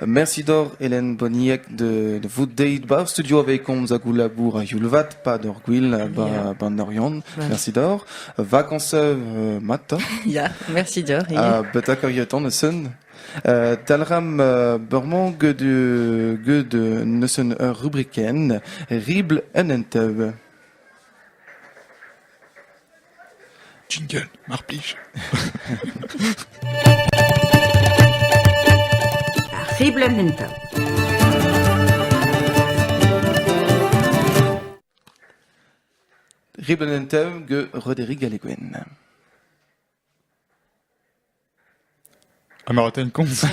Mersi deoc'h Hélène Bonniec da vout deuet 'ba ar studio aveit komz hag ho labour a-youl-vat 'pad ur gwil 'ba'n Oriant. Mersi deoc'h. Vakañs mat 'ta. Ya, mersi deoc'h ivez. Ha betek ar yetan neuzen. Dalc'hamp bremañ get get neuzen ur rubrikenn ribl un enteub. Jingle, mar plij. Ar seblant enta. Ribenn en tev get Roderic Galleguen. Amaraten komz.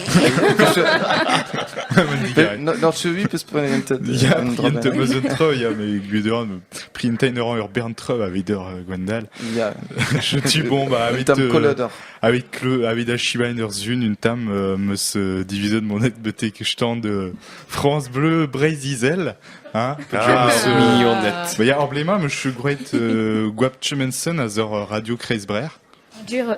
N'en chevi peus prenet entet. Ya, int eus un treu, ya, mais gudorn, printein eur ur bern treu avit ur Gwendal. Ya. Je tu bon, bah, avit... Tam kolodor. Avit cleu, avit a chibain ur zun, un tam, meus diviset mon et betek stand France Bleu Breiz Izel, hein? Ah, millionnet. Bah, ya, emblema, monsieur Gwret Gwap Chemenson a zor Radio Kreisbrer. Dur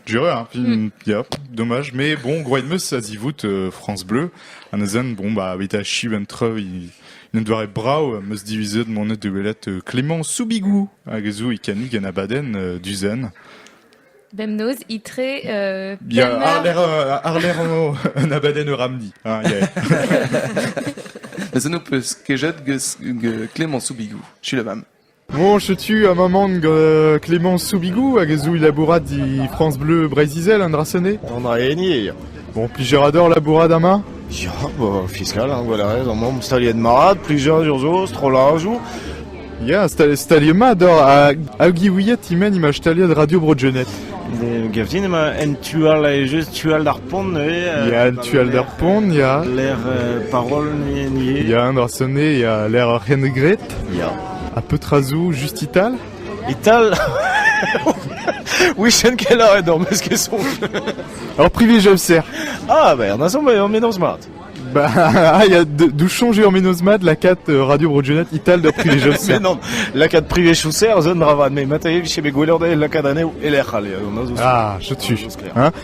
Dureur ar film, ya, dommage, mais bon, gwraet 'm eus a-zivout euh, France Bleu, ha neuzen, bon, bah, evit achiv un treuil, un doare brav am eus divizet monet da welet euh, Clément Soubigou, hag zo e kanig un abadenn euh, du zen. Bemnoz, itre, euh, Ya, Palmar- ar lec'h, euh, ar lec'h en- un abadenn eus Ramdi. Ah, yeah. Mais ça nous peut kejet que, que Clément Soubigou, je suis la femme. Moñ, setu amañ gant Clémence Soubigou hag a zo labourat e France Bleu Breizh-Izel an dra-se enne. An dra-heni eo. Bon, plijer ador labourat amañ Ya, ba, fiskal, hein, voilà, ez amañ staliet mat, plijadur zo, strollajoù. Ya, stal- staliet mat dor ha hag ouiet e-men imaj staliet Radio Bro-Genêt. Ne- Gav din emañ en tu all just tu all d'ar pont neuze. euh, Ya, en tu all d'ar pont, ya. Lec'h euh, parol neuze. Ya, an dra-se enne, ya, lec'h ur c'hent graet. Ya, ha petra zo just e-tal? E-tal? Wichen kelaouet hor meus ket soñj. Ur privilegium serr. Ah, ben, an asomb eo mennoz mat. Bah, ah, il y a de, de changer en menosmat la cat euh, Radio Broadjonet Ital de privilegium serr. Mais non, lakat privilegioù serr zo un dravad, me mata e vije bet gweler da lakad anezho e lec'h ale. Ah, je tue. Hein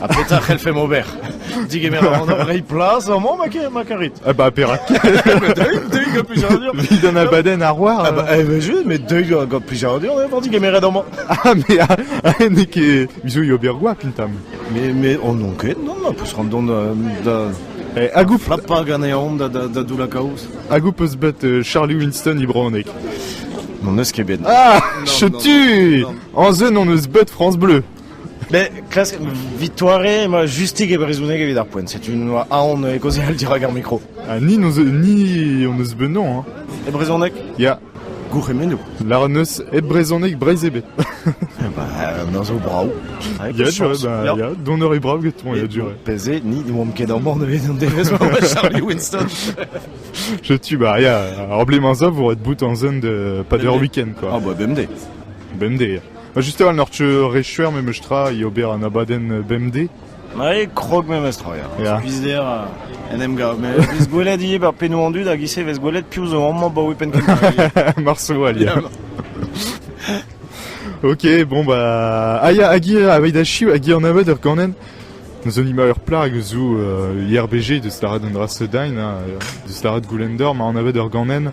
Ha petra c'hellfemp ober Digemer a ran reiñ plas amañ ma karit Ah bah perak Deuil, deuil gant plijadur Vit d'an abadenn ar war Ah bah eh ben je, mais deuil gant plijadur d'ever digemeret amañ Ah mais ah n'eo ket Mizu yo ber gwa pintam Mais, mais on non ket, non, on peut se rendre compte da... Eh, hag ouf Plapa ganeon da, da, da doula kaoz Hag ouf eus bet euh, Charlie Winston i bronek N'on eus ket bet Ah, chetu En zeu n'on eus bet France Bleu Bet klask Victoire emañ justik e brezhoneg evit ar poent. Setu un oa aon kaozeal dirak ar mikro. Ha ni, n'eus, ni hon eus bennañ, hein. E brezhoneg Ya, gourc'hemennoù. lâran eus hep brezhoneg Breizh ebet. Bah, ben zo brav. Avec Ya, chance. durée, bah, Ya. ya, donner est brave getoñ, ya, durée. Pezé, ni ne oamp ket ar mor nevez an devezh ma oa Charlie Winston. Je tue, bah, ya, ar blemañ za vo ret bout an zen de pas d'ur week-end, Ah quoi. bah, bemdez. Bemdez. Ha just a-walc'h n'oc'h re chuer memes tra e ober an abadenn bemdez ? Ma eo krog memes tra, ya. Ya. Skuizder ha en em gav. Met vez gwelet ivez ba pennoù an dud hag ise vez gwelet piv zo amañ ba penn kentañ. Marso all, ya. Ok, bon bah... Ah ya, hag eo, aveit achiv, hag eo an abed ur ganenn Neus onima ur plar eus zo euh, IRBG, deus lâret un dra seudain, hein, deus lâret goulender, ma an abed ur ganenn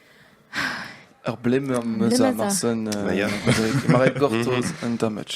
Ur blemmeur 'm eus ar Marsen ma rae gortoz un tamm match.